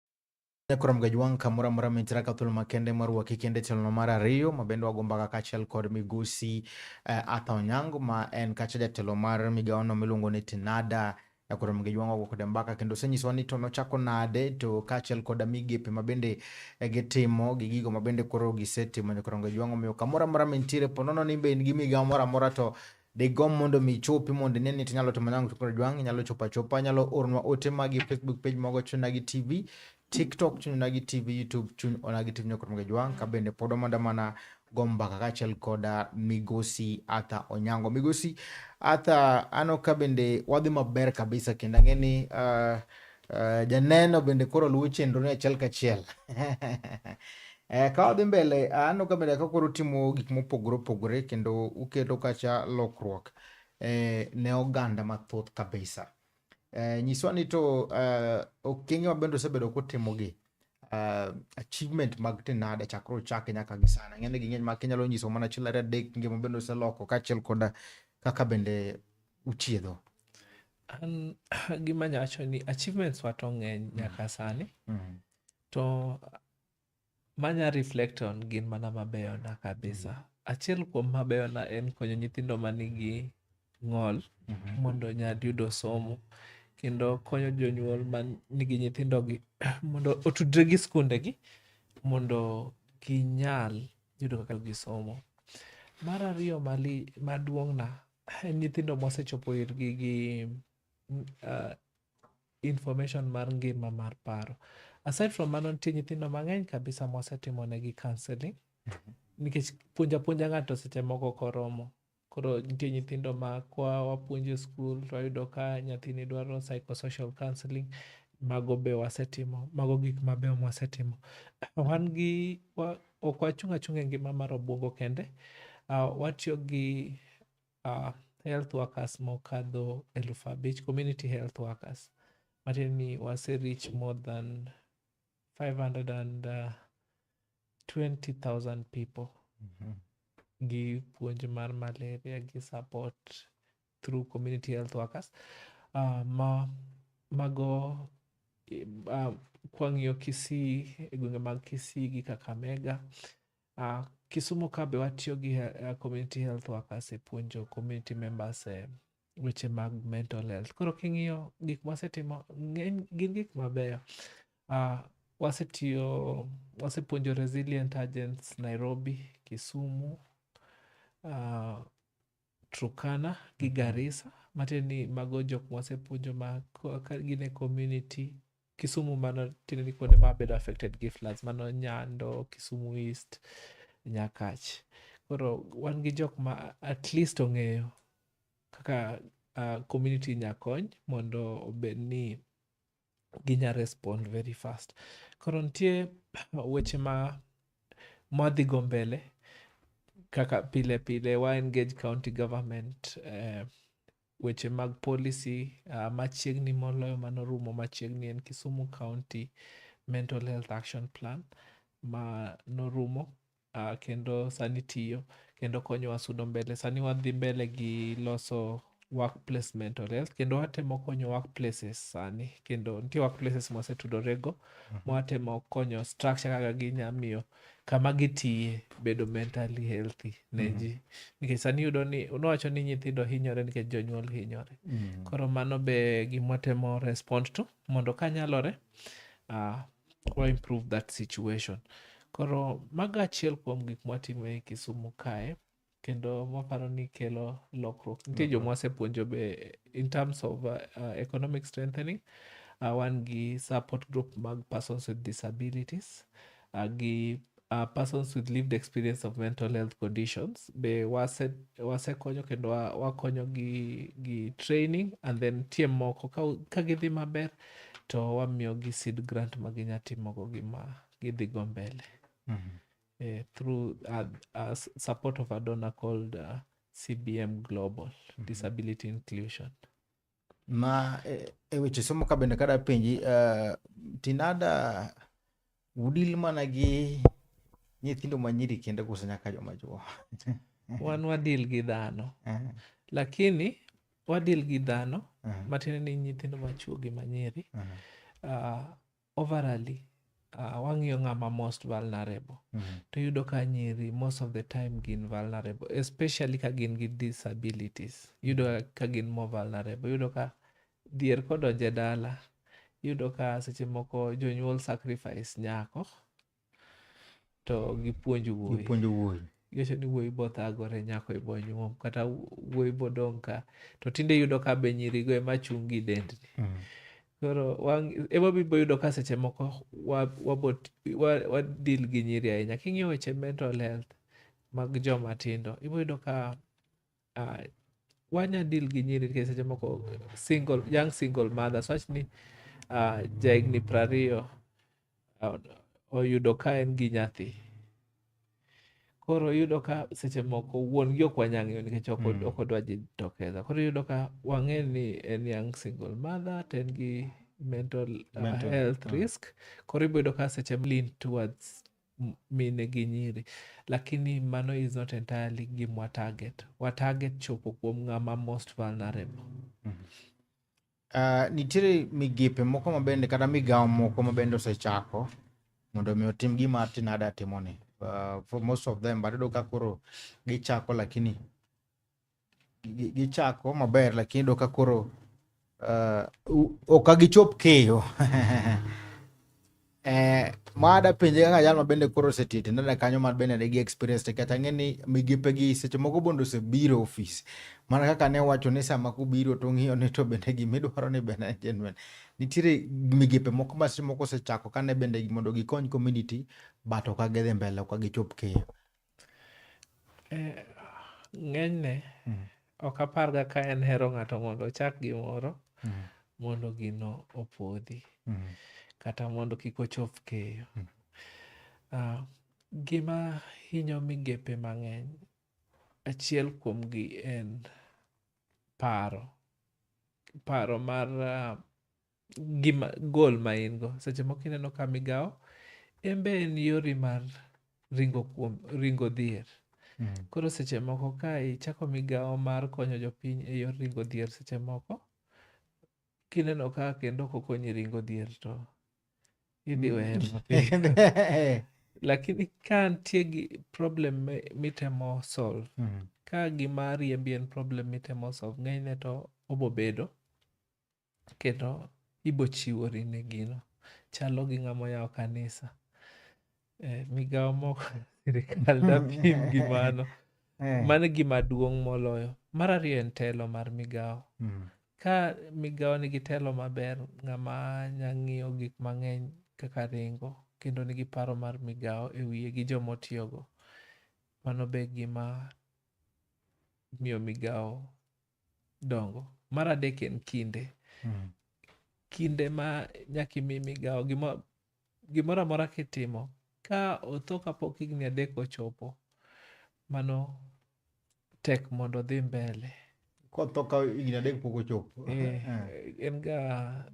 Nyakuram Gajwang' kamoro amora mintiere ka thuolo makende marwaki kende tielo mar ariyo ma bende wago mbaka kaachiel kod migosi uh, eh, Arthur Onyango ma en kacha jatelo mar migawono miluongo ni Tinada Nyakuram Gajwang' wago kode mbaka kendo osenyisowa ni to nochako nade to kaachiel koda migepe ma bende eh, gitimo gi gigo ma bende koro gisetimo Nyakuram Gajwang' omiyo kamoro amora mintiere po nono ni be in gi migawo moro amora to digomb mondo mi chopi mondo ine ni tinyalo timo nango tukoro jwang inyalo chopa chopa nyalo ornwa ote magi facebook page mogo chuna gi tv tiktok chuna gi tv youtube chun ona gi tv nyokoro mogo jwang ka bende pod omanda mana gombaka kaachiel koda migosi arthur onyango migosi arthur ano ka bende wadhi maber kabisa kendo ang'e ni uh, uh, janeno bende koro luwo chenro ni achiel kachiel E, ka wadhi mbele aneno ka mbele ka koro timo gik mopogore opogore kendo uketo kacha lokruok e, ne oganda mathoth kabisa. E, nyiswa ni to e, okenge ma bende osebedo kotimogi e, achievement mag tinada chakre ochake nyaka gi sana ng'eny gi ng'eny ma kinyalo nyiso mana achiel ariyo adek ngima bende oseloko kaachiel koda kaka bende uchiedho. An gima nyacho ni achievements wa to ng'eny nyaka sani mm. to Manya reflect on gin mana mabeyona kabisa. Mm. Achiel kuom mabeyona en konyo nyithindo manigi ng'ol mm -hmm. mondo nyad yudo somo kendo konyo jonyuol man nigi nyithindogi mondo otudre gi skundegi mondo ginyal yudo kaka gisomo. Mar ariyo mali maduong'na en nyithindo mosechopo irgi gi uh, information mar ngima mar paro aside from mano nitie nyithindo mang'eny kabisa mwasetimo negi counseling nikech puonja puonja ng'ato seche moko koromo koro nitie nyithindo ma kwa wapuonjo e skul to wayudo ka nyathini dwaro psychosocial counseling mago be wasetimo mago gik mabeyo mwasetimo wan gi wa- ok wachung' achung' e ngima mar obwongo kende uh, watiyo gi uh, health workers mokadho eluf abich community health workers matiende ni wase reach more than 520,000 people gi puonj mar malaria gi support through community health workers uh, ma mago uh, kwang'iyo kisii e gwenge mag kisii gi kakamega Uh, Kisumo ka be watiyo gi uh, community health workers e puonjo community members e eh, weche mag mental health. Koro king'iyo gik mwasetimo ng'eny gin gik mabeyo. Uh, wasetiyo wasepuonjo resilient agents Nairobi, Kisumu, uh, Turkana gi mm-hmm. Garissa matiende ni mago jok mwasepuonjo ma gin e community Kisumu mano tiende ni kuonde ma bedo affected gi floods mano Nyando, Kisumu East, Nyakach. Koro wan gi jok ma at least ong'eyo kaka uh, community nya kony mondo obed ni ginya respond very fast. Koro nitie weche ma madhi go mbele kaka pile pile wa engage county government eh, weche mag policy uh, machiegni moloyo mano rumo machiegni en Kisumu County Mental Health Action Plan ma norumo uh, kendo sani tiyo kendo konyowa sudo mbele. Sani wadhi mbele gi loso workplace mental health kendo watemo konyo workplaces sani kendo nitie workplaces mwasetudorego mm -hmm. mwatemo konyo structure kaka ginyamiyo kama gitiye bedo mentally healthy ne mm. ji nikech sani yudo ni unowacho ni nyithindo hinyore nikech jonyuol hinyore mm. koro mano be gimwatemo respond to mondo ka nyalore uh, wa improve that situation koro mago achiel kuom gik mwatimo e kisumu kae kendo maparo ni kelo lokruok nitie joma wasepuonjo be in terms of uh, uh, economic strengthening uh, wan gi support group mag persons with disabilities uh, gi uh, persons with lived experience of mental health conditions be wase wasekonyo kendo wa- wakonyo gi, gi training and then tie moko ka, ka gidhi maber to wamiyogi seed grant ma ginya timogo gima gidhigo mbele uh, through uh, uh, support of a donor called uh, cbm global mm -hmm. disability inclusion ma e, e weche somo ka bende kada penji uh, tinada udil mana gi nyithindo manyiri kende koso nyaka joma chuo wan wadil gi dhano uh -huh. lakini wadil gi dhano uh -huh. matiende ni nyithindo machuo gi manyiri uh -huh. uh, overally uh, wang'iyo ng'ama most vulnerable mm -hmm. to yudo ka nyiri most of the time gin vulnerable especially ka gin gi disabilities yudo mm -hmm. ka gin more vulnerable yudo ka dhier kodonje dala yudo ka seche moko jonyuol sacrifice nyako to gipuonj wuoyi gipuonjo wuoyi ngeche ni wuoyi bothagore nyako ibonyuom kata wuoyi bodong' ka to tinde iyudo ka be nyirigo ema chung' gi dendni Mm. koro wang- ema bibo yudo ka seche moko wa- wabot- wa- wadil gi nyiri ahinya king'iyo weche mental health mag joma tindo iboyudo ka uh, wanya deal gi nyiri nikech seche moko single young single mothers wach ni uh, jahigni prariyo uh, oyudo ka en gi nyathi koro yudo ka seche moko wuon gi ok wanyang'eyo nikech ok mm. odwa ji tokeza koro yudo ka wang'e ni en young single mother to en gi mental, uh, mental uh, health uh. risk koro iboyudo ka seche lean towards mine gi nyiri lakini mano is not entirely gim wa target wa target chopo kuom ng'ama most vulnerable mm -hmm. uh, nitiere migepe moko mabende kata migawo moko mabende osechako mondo mi otim gima tinada timoni uh, for most of them but iyudo ka koro gichako lakini gichako gi maber lakini iyudo ka koro uh, ok agichop keyo eh, mada penje kaka jal ma bende koro osetii tindo ne kanyo ma bende nigi experience tek kata ng'eni migepe gi seche moko bende osebiro ofis mana kaka ne wacho ni sama kubiro to ng'iyo ni to bende gima idwaro ni bende en genuine nitiere migepe moko ma seche moko osechako kane bende mondo gikony community but ok agidhi mbele ok agichop keyo Eh, ng'enyne mm. ok aparga ka en hero ng'ato mondo ochak gimoro mm. mondo gino opodhi mm. kata mondo kik ochop keyo mm. uh, gima hinyo migepe mang'eny achiel kuomgi en paro paro mar uh, gima goal ma in go seche moko ineno ka migawo en be en yori mar ringo kuom ringo dhier koro seche moko ka ichako migawo mar konyo jopiny e yor ringo dhier seche moko kineno ka kendo ok okonyi ringo dhier to idhi weye mapiyo lakini ka nitie gi problem mi- mitemo solve Mm. ka gima riembi en problem mitemo solve ng'enyne to obobedo kendo ibochiwori ne gino. Chalo gi ng'ama oyawo kanisa. Eh, migawo moko sirikal dapim gi mano. Eh. Mano gima duong' moloyo. Mar ariyo en telo mar migawo. Mm. Ka migawo nigi telo maber, ng'ama nya ng'iyo gik mang'eny kaka ringo, kendo nigi paro mar migawo e wiye gi joma otiyogo. Mano be gima miyo migawo dongo mar adek en kinde mm. kinde ma nyaka imi migawo gimoro amora kitimo ka otho kapok higni adek ochopo mano tek mondo odhi mbele kotho ka higni adek pok ochopo eh, eh. en ga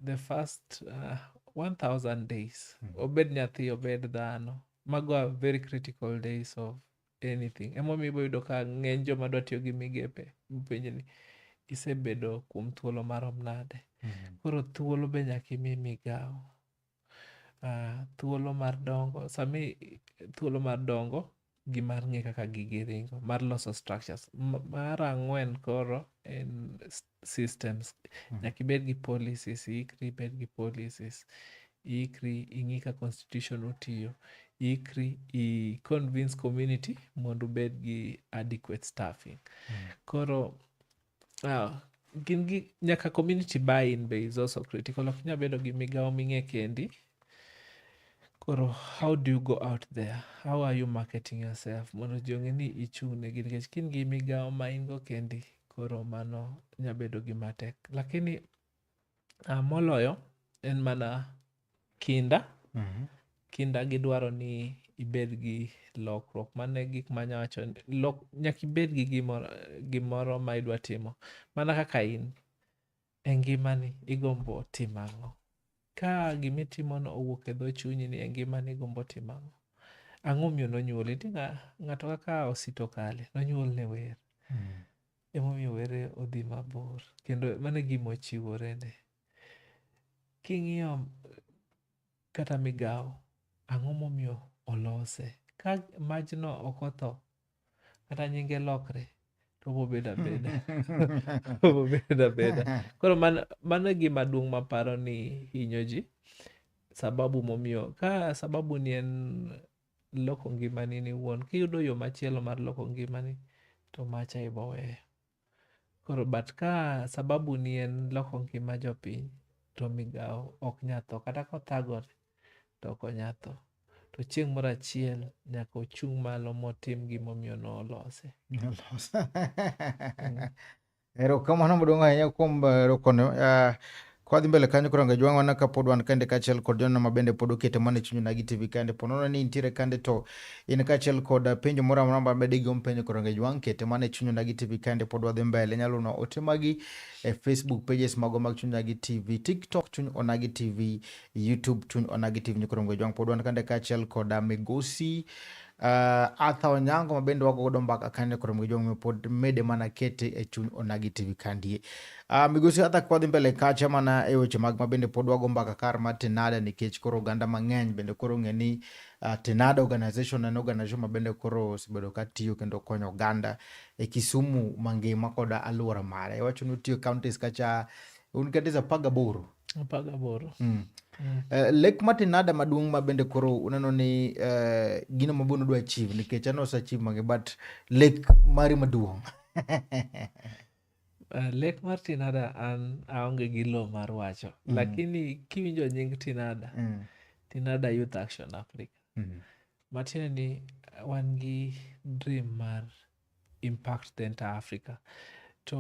the first uh, 1000 days mm. obed nyathi obed dhano mago are very critical days of anything. Emomiyo ibo yudo ka ng'eny joma dwa tiyo gi migepe penjo ni isebedo kuom thuolo marom nade. Mm-hmm. Koro thuolo be nyaka imi migawo. Uh, thuolo mar dongo sami thuolo mar dongo gi mar ng'e kaka gigi ringo mar loso structures mar ang'wen koro en systems mm. nyaka ibed gi policies iikri ibed gi policies iikri ing'i ka constitution otiyo ikri i convince community mondo ubed gi adequate staffing mm. koro uh, gin gi nyaka community buy in be is also critical ok nya bedo gi migawo ming'e kendi koro how do you go out there how are you marketing yourself mondo ji ong'e ni ichung'ne gi nikech kin gi migawo ma in go kendi koro mano nya bedo gima tek lakini uh, moloyo en mana kinda Mhm. kinda gidwaro ni ibed gi lokruok mano e gik manya wacho ni lok- nyaka ibed gi gimoro, gimoro ma idwa timo mana kaka in E ngimani, igombo timo ang'o? Ka gima itimono owuok e dho chunyi ni e ngimani igombo timo ang'o? Ang'o omiyo nonyuoli? Nitie ng'a- ng'ato kaka Osito Kale, nonyuol ne wer. Emomiyo were odhi mabor. Kendo mano e gima ochiworene. King'iyo kata migawo, ang'o momiyo olose? Ka majno ok otho, kata nyinge lokre to obobedo abeda obobedo abeda koro man- mano e gima duong' maparo ni hinyo ji sababu momiyo ka sababu ni en loko ngimani ni wuon kiyudo yo machielo mar loko ngimani to macha iboweyo Koro but ka sababu ni en loko ngima jopiny to migawo ok nya tho kata kothagore to ok onya tho. To chieng' moro achiel nyaka ochung' malo motim gimomiyo nolose. Erokamano maduong' ahinya kuom eh, rokone. Ah, Kwadhi mbele kanyo koro ngejwang' wana ka pod wan kande kaachiel kod joneno ma bende pod okete mana e chuny Nagi TV kande. Po nono ni intiere kande to in kaachiel kod penjo moro amora ma bende igomb penjo koro ngejwang' kete mana e chuny Nagi TV kande pod wadhi mbele. Inyalo no ote magi e Facebook pages mago mag chuny Nagi TV, TikTok chuny Onagi TV, YouTube chuny Onagi TV. Koro ngejwang' pod wan kande kaachiel kod Migosi Uh, Arthur Onyango ma bende wago godo mbaka kane koro gi jong pod mede mana kete e chuny onagi TV kandie. Uh, migosi Arthur kwadhi mbele kacha mana e weche mag ma bende pod wago mbaka kar ma Tenada nikech koro oganda mang'eny bende koro ng'e ni uh, Tenada organization en organization ma bende koro osebedo ka tiyo kendo konyo oganda e Kisumu mangima koda aluora mare. Iwacho ni otiyo counties kacha un counties apar gaboro Mm. Uh, lek matin nada maduong' ma bende koro uneno ni uh, gino ma bunu dwa chiv nikech ano osachiv mange but lek mari maduong' uh, lek mar tinada an aonge gi lo mar wacho mm. lakini kiwinjo nying tinada mm. tinada youth action africa mm. matiende ni wan gi dream mar impact the entire africa to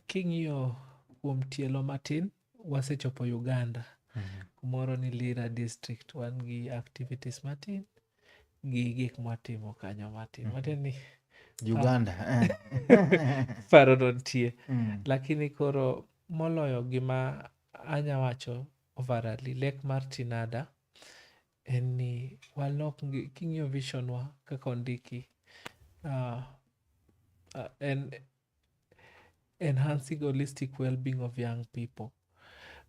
King'iyo kuom tielo matin, wasechopo Uganda. Mm -hmm. Kumoro ni Lira district, wan gi activities matin gi gik mwatimo kanyo matin. Mm -hmm. Matiende ni Uganda. Eh. Paro dontie. Mm. Lakini koro moloyo gima anya wacho overally, lek mar Tinada en ni walok king'iyo vision wa kaka ondiki uh, uh, en enhancing holistic well-being of young people.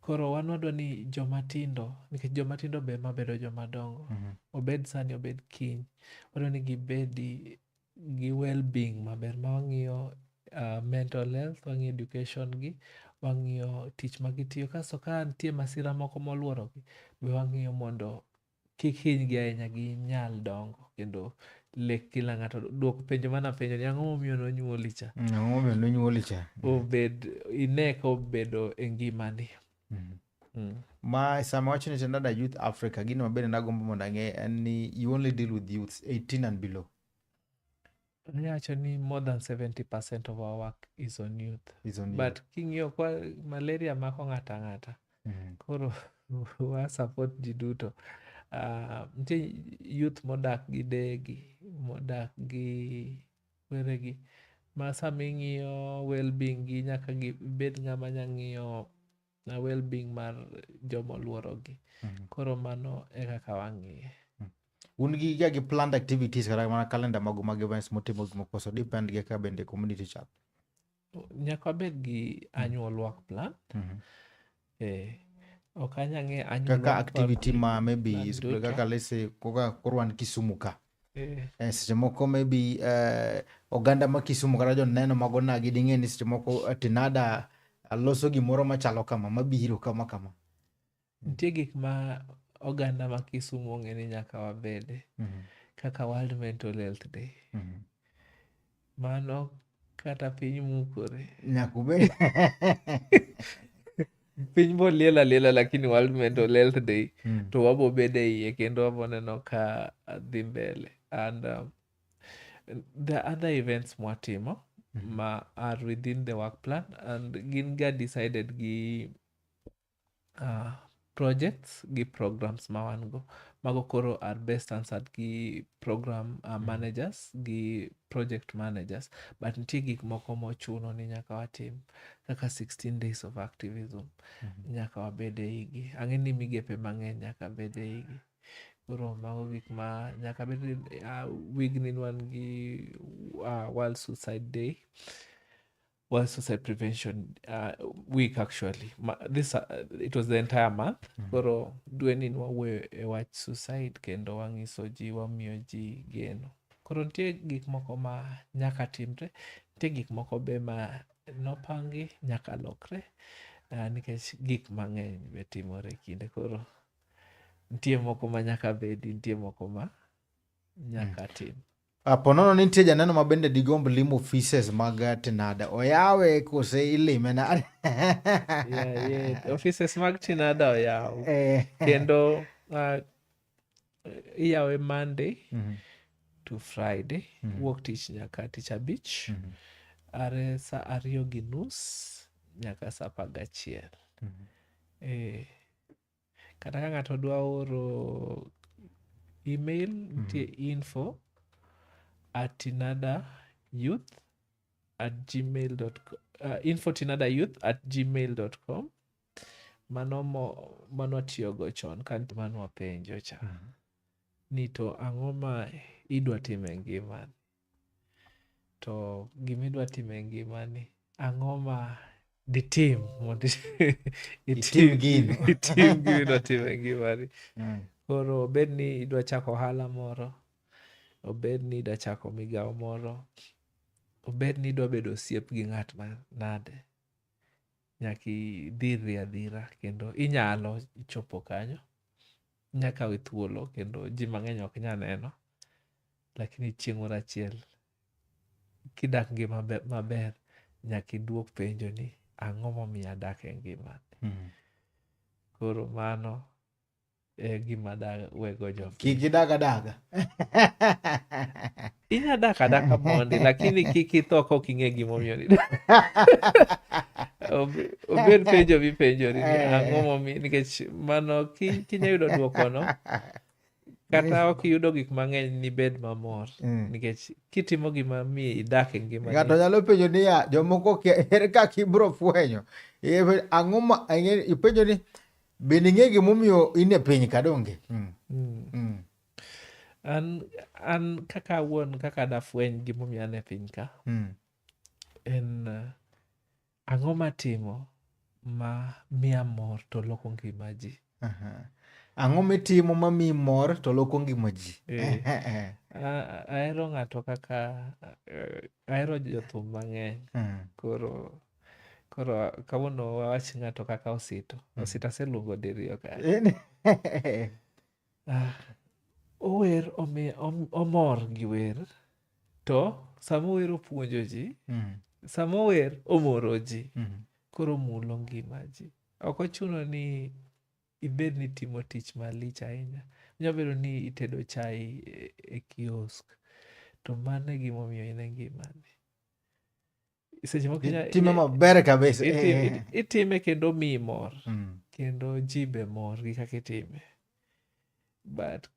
Koro wan wadwa ni joma tindo nikech joma tindo be ma bedo joma dongo Mhm. obed sani obed kiny wadwa ni gibedi gi well-being maber ma wang'iyo uh, mental health wang'iyo education gi wang'iyo tich ma gitiyo kasto ka nitie masira moko molworogi be wang'iyo mondo kik hinygi ahinya ginyal dongo kendo lek kila ng'ato duok penjo mana penjo ni ang'o momiyo nonyuoli cha mm, ang'o momiyo nonyuoli cha obed ine ka obedo e ngimani mm. Mm. ma sama wacho ni tendada youth africa gino mabende nagombo mondo ang'e en ni you only deal with youths 18 and below Ayacho ni more than 70% of our work is on youth. Is on But king'iyo kwa malaria mako ng'ato ang'ata. Mm. Koro wa support ji duto. Uh, nitie youth modak gi degi, modak gi weregi. Ma sama ing'iyo well-being gi nyaka gibed ng'ama nya ng'iyo na well being mar joma oluorogi mm-hmm. koro mano e kaka wang'iye mm. un gi ga gi planned activities kata mana calendar magu mag events mutimo gik moko so depend gi ka bende community chat nyaka wabed gi annual work plan mm-hmm. eh ok anyang'e annual kaka activity ma maybe kaka let's say kaka korwan kisumu ka Eh. Eh, seche moko maybe uh, oganda ma Kisumu kata joneno mago nagi ding'e ni seche moko eh, Tinada loso gimoro machalo kama mabiro kama kama. Nitie gik ma oganda ma Kisumu ong'e ni nyaka wabede mm -hmm. kaka World Mental Health Day mm -hmm. Mano kata piny mukore. Nyaka ubed. piny boliel aliela lakini World Mental Health Day mm. to wabo bede iye kendo wabo neno ka dhi mbele and um, the other events mwatimo mm. ma are within the work plan and gin ga decided gi uh, projects gi programs ma wan go mago koro are best answered gi program uh, mm-hmm. managers gi project managers but nitie gik moko mochuno ni nyaka watim kaka 16 days of activism mm -hmm. nyaka wabed e igi ang'e ni migepe mang'eny nyaka bed e igi koro mago gik ma nyaka bed uh, wigni wan gi uh, world suicide day World Suicide Prevention uh, Week actually. Ma, this uh, it was the entire month. Mm -hmm. Koro dwe ni wawuoyo e wach suicide kendo wang'iso ji wamiyo ji geno. Koro nitie gik moko ma nyaka timre, nitie gik moko be ma nopangi nyaka lokre uh, nikech gik mang'eny be timore kinde koro nitie moko ma nyaka bedi, nitie moko ma nyaka mm. tim. Apo nono ni nitie janeno ma bende digomb limo offices mag Tinada. Oyawe kose ilime na. yeah, yeah. Offices mag Tinada oyaw. Eh. Kendo uh, iyawe Monday mm -hmm. to Friday. Mm -hmm. Wuok tich nyaka tich abich. Mm -hmm. Are sa ariyo gi nus nyaka sa apar gachiel. Mm -hmm. eh, kata ka ng'ato dwa oro email nitie info at tinada youth at gmail dot co- uh, info tinada youth at gmail dot com mano mo mano atiyogo chon ka nitie mano wapenjo cha ni to ang'o ma idwa timo e ngimani to gima idwa timo e ngimani ang'o ma ditim mondo itim gino itim gima idwa timo e ngimani mm. koro obed ni idwa chako ohala moro obed ni idwa chako migawo moro obed ni idwa bedo osiep gi ng'at ma nade nyaka idhirri adhira kendo inyalo chopo kanyo. Inya kawe thuolo kendo ji mang'eny ok nya neno, lakini chieng' moro achiel kidak ngima maber nyaka iduok penjo ni ang'o momiyo adak e ngimani. Hmm. Koro mano e gima da wego jo kik idaga daga inya daka daka mondi lakini kik itho kok ing'e gimomiyo ni obed penjo mipenjori ni eh. ang'o momiyo nikech mano kinya yudo dwokono kata ok iyudo gik mang'eny nibed mamor mm. nikech kitimo gima mi idak e ngima ng'ato nyalo penjo niya jomoko ere kaka ibro fwenyo ang'o ipenjo ni Be ning'e gimomiyo in e piny ka donge? Mm. Mm. Mm. An, an kaka awuon kaka dafweny gimomiyo an e piny ka mm. en uh, ang'o matimo ma miya mor to loko ngima ji uh -huh. ang'o mitimo ma miyi mor to loko ngima ji eh. ahero ng'ato kaka eh, ahero jothum mang'eny uh -huh. koro Koro kawuono wawach ng'ato kaka Osito. Mm. Osito aseluongo diriyo ka. Ah, ower omor gi wer to sama ower opuonjo ji mm. sama ower omoro ji mm. koro mulo ngima ji ok ochuno ni ibed ni timo tich malich ahinya nyalo bedo ni itedo chai e, e kiosk to mano e gimomiyo in e ngimani seche moko itime maber kabisa eh, eh, eh. itime kendo miyi mor mm. kendo ji be mor gi kaka itime but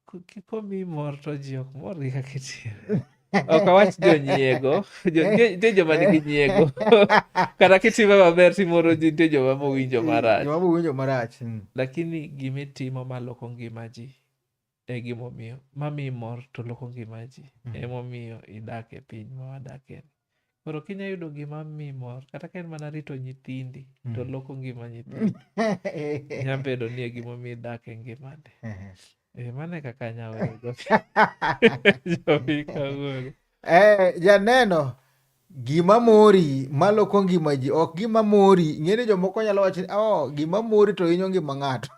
komiyi mor to ji ok mor gi kaka itime ok awach jonyiego nitie joma nigi nyiego kata kitime maber timoro ji nitie joma mowinjo marach mm, lakini gima itimo maloko ngima ji e gimomiyo mamiyi mor to loko ngima ji mm. emomiyo idak e piny ma wadakie ni koro kinya yudo gima mi mor kata ka en mana rito nyithindi mm. to loko ngima nyithindi nya bedo ni e gimomiyo idak e ngimani e, mano e kaka nya weyo jopika wuoro Eh, janeno gima mori maloko ngima ji ok gima mori ing'eni jomoko nyalo wacho ni oh, gima mori to hinyo ngima ng'ato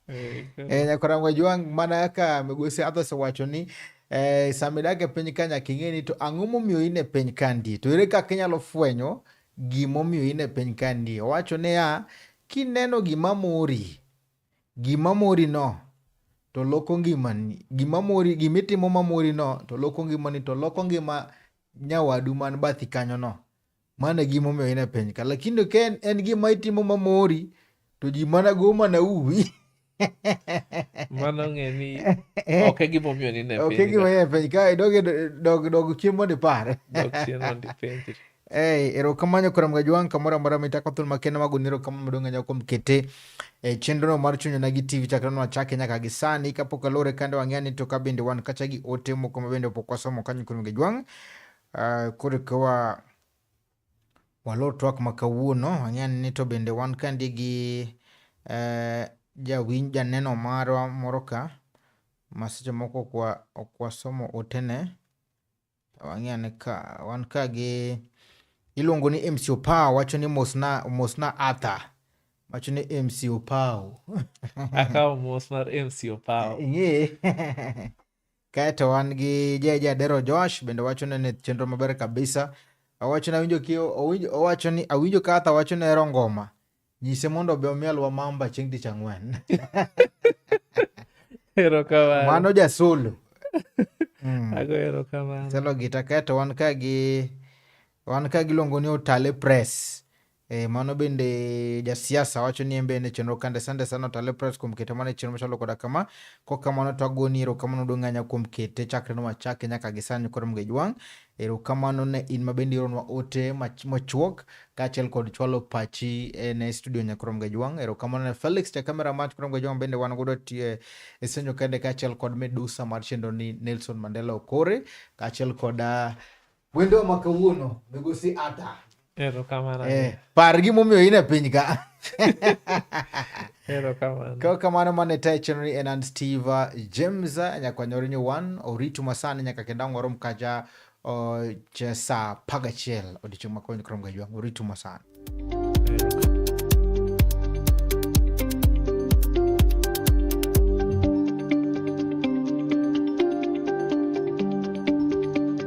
eh, eh, nyakorango jwang mana kaka migosi athos owacho ni eh, sama idak e piny ka nyaka ing'e ni to ang'o momiyo in e piny kandi to ere kaka inyalo fwenyo gimomiyo in e piny kandi owacho niya kineno gima mori gima mori no to loko ngimani. Gima mori, gima itimo ma mori no to loko ngimani to loko ngima nyawadu man bathi kanyo no. Mano e gima omiyo in e piny ka. Lakini ka en, en gima itimo ma mori to ji mana go mana uwi. Mano ng'e ni ok e gima omiyo ni ne piny. Ok e gima ni e piny ka dog dog dog chien mondo ipar. Dog chien mondo ipenjri. Hey, erokamano kuom gajwang' kamoro amora mitako thul makende mago ni erokamano maduong' ahinya kuom kete e chenrono mar chunyo na gi TV chakre nwachake nyaka gi sani kapok alore kande wang'eya ni to ka bende wan kacha gi ote moko ma bende pok wasomo kanyo kuom gajwang' uh, koro ka wa walor twak ma kawuono wang'eya ni to bende wan kandi gi uh, jawinj janeno marwa moro ka ma seche moko ok wasomo otene Wang'e ane ka wan ka gi iluongo ni MC Opao wacho ni mosna mosna Arthur wacho ni MC Opao. Akawo mos mar MC Opao. Ing'e. Kaeto wan gi Jeje Adero Josh bende wacho ni ne chenro maber kabisa. Awacho ni awinjo ki owinjo owacho ni awinjo ka Arthur wacho ni ero ngoma. Nyise mondo obe omielwa mamba chieng' tich ang'wen. Erokamano. Mano jasolo. Mm. Ago erokamano. Solo gita keto wan ka gi wan ka giluongo ni Otale Press. E, mano bende jasiasa wacho ni en be ne chenro kande sande sana Otale Press kuom kete mana e chenro machalo koda kama. Kok kamano to agoni erokamano duong' ahinya kuom kete chakre nowachake nyaka gi sani koro mgej wang'. Erokamano ne in ma bende ioronwa ote mochuok kaachiel kod chwalo pachi e, ne studio Nyakrom Gajwang'. Erokamano ne Felix ja kamera mar Nyakrom Gajwang' bende wan godo tie e senyo kende kaachiel kod medusa mar chenro ni Nelson Mandela Okore kaachiel kod ah, wendo ma kawuono migosi Ata erokamano eh, par gimomiyo in e piny ka Kwa kama na mane tae chenri en an Steve James nyakwa nyoro nyo wan oritu masani nyaka kenda ngoro mkaja o chesa paga chel odicho makonyo krom gajwa oritu masani.